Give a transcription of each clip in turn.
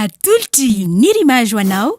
Atolotry i Nirima Joanao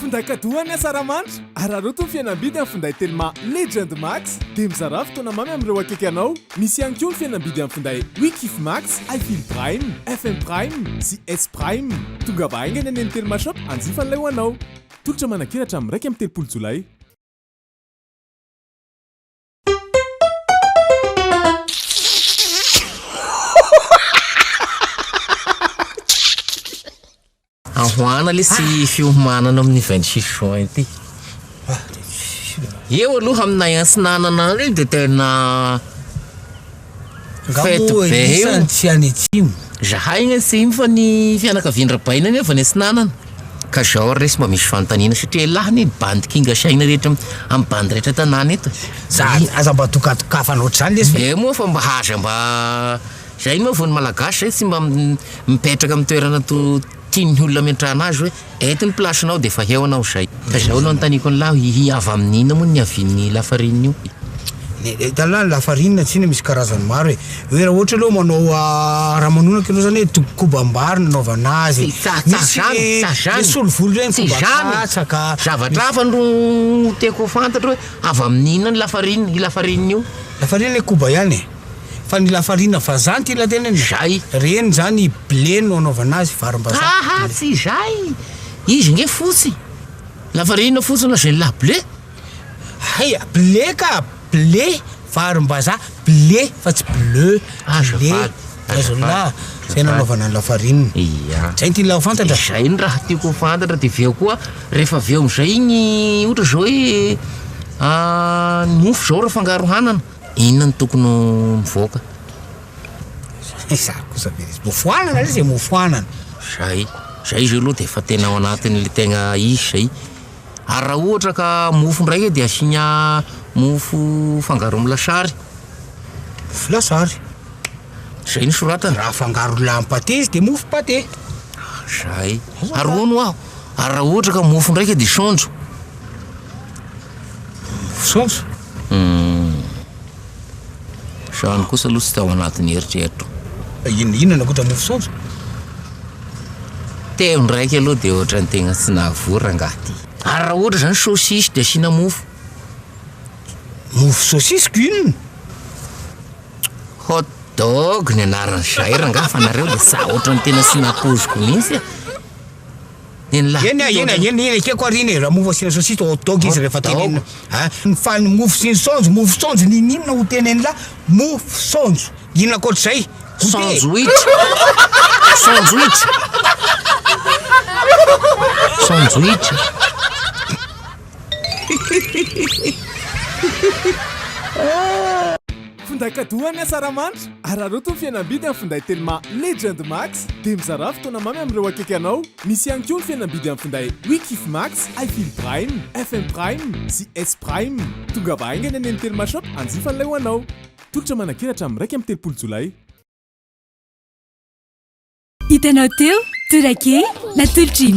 Finday kadoa an'i Asaramanitra! Araraoty ny fihenam-bidy amin'ny finday Telma Legend Max dia mizarà fotoana mamy amin'ireo akaiky anao. Misy ihany koa ny fihenam-bidy amin'ny finday Wekif Max, iFeel Prime, FM Prime sy S Prime. Tongava haingana eny amin'ny Telma Shop hanjifa an'ilay ho anao. Tolotra manankeratra amin'ny iraika amby telopolo jolay. Ahoana le sy fiomanana amin'ny 26 juin ity? Eo aloha amin'ny nahintsinanan andro io dia tena Fety be io. Tsy any atsimo. Zahay any atsimo fa ny fianakavian-dRabaina anie avy any atsinanana. Ka zao ary lesy mba misy fanontaniana satria elah anie ny bandy kinga saina rehetra amin'ny bandy rehetra tanàna eto. Za aza mba dokadokafana ohatr'izany lesy fa. Eo moa fa mba aza mba zay moa vao ny malagasy zay tsy mba mipetraka amin'ny toerana to tian'ny olona ametrahana azy hoe Eto ny place-nao dia efa eo anao izay. Ka izao no anontaniako ny lahy, hihi avy amin'inona moa ny niavian'ny lafarinina io? Etallah, ny lafarinina tsy inona misy karazany maro e, hoe raha ohatra aloha manao raha manonaka ianao zany hoe toby kobam-bary no anaovana azy, misy le solovolo reny koba katsaka, zavatra hafa no tiako ho fantatro hoe avy amin'inona ny lafarinina, io lafarinina io? Lafarinina koba ihany e. Fa ny lafarina vazaha ty la tenany e! Zay. Reny zany blé no anaovana azy, varimbazaha. Aha, tsy izay! Izy nge fotsy. Lafarina fotsy na zay la blé. Hay, blé ka! Blé, varimbazaha, blé fa tsy bleu, blé, azonlah, zay no anaovana ny lafarina. Ia. Zay ty la ho fantatra. Zay ny raha tiako ho fantatra de avy eo koa rehefa avy eo amizay igny ohatra zao hoe ny mofo zao raha fangaro hanana. Inona no tokony ho mivoaka? Izaho kosa ve resy mofoanana re zay mofoanana. Zay, zay izy io aloha dia efa tena ao anatin'ilay tegna izy zay. Ary raha ohatra ka mofo ndray e dia asiana mofo fangaro amin'ny lasary. Mofo lasary. Zay no soratana. Raha afangaro lamy pate izy dia mofo pate. Zay. Ary hono hoa, ary raha ohatra ka mofo ndraika dia saonjo. Mofo saonjo. Izany kosa aloha tsy tao anatin'ny eritreritro. Inona inona ankoatra mofo saonjo? Teo ndraiky aloha dia ohatran'ny tegna tsy nahavory rangahy ty. Ary raha ohatra zany saucisse dia asiana mofo? Mofo saucisse ko inona? Hot dog ny anaran'izay rangahy fa nareo dia sa ohatran'ny tena tsy nampoiziko mihitsy e. Eny a, eny a, eny, eny ekeko ary iny e, raha mofo asiana sôsisy de hot dog izy rehefa tenenina a, fa ny mofo sy ny saonjo, mofo saonjo ninoninona ho tenenina la mofo saonjo, inona ankoatr'izay? Sandwich, sandwich, sandwich. Finday kadoa an'i Asaramanitra! Araraoty ny fihenam-bidy amin'ny finday Telma Legend Max dia mizarà fotoana mamy amin'ireo akaiky anao. Misy ihany koa ny fihenam-bidy amin'ny finday We Kif Max, I Feel Prime, FM Prime sy S Prime. Tongava haingana eny amin'ny Telma Shop hanjifa an'ilay ho anao. Tolotra manankery hatramin'ny iraika amby telopolo jolay. Hitanao teo, Torak'e, natolotr'i.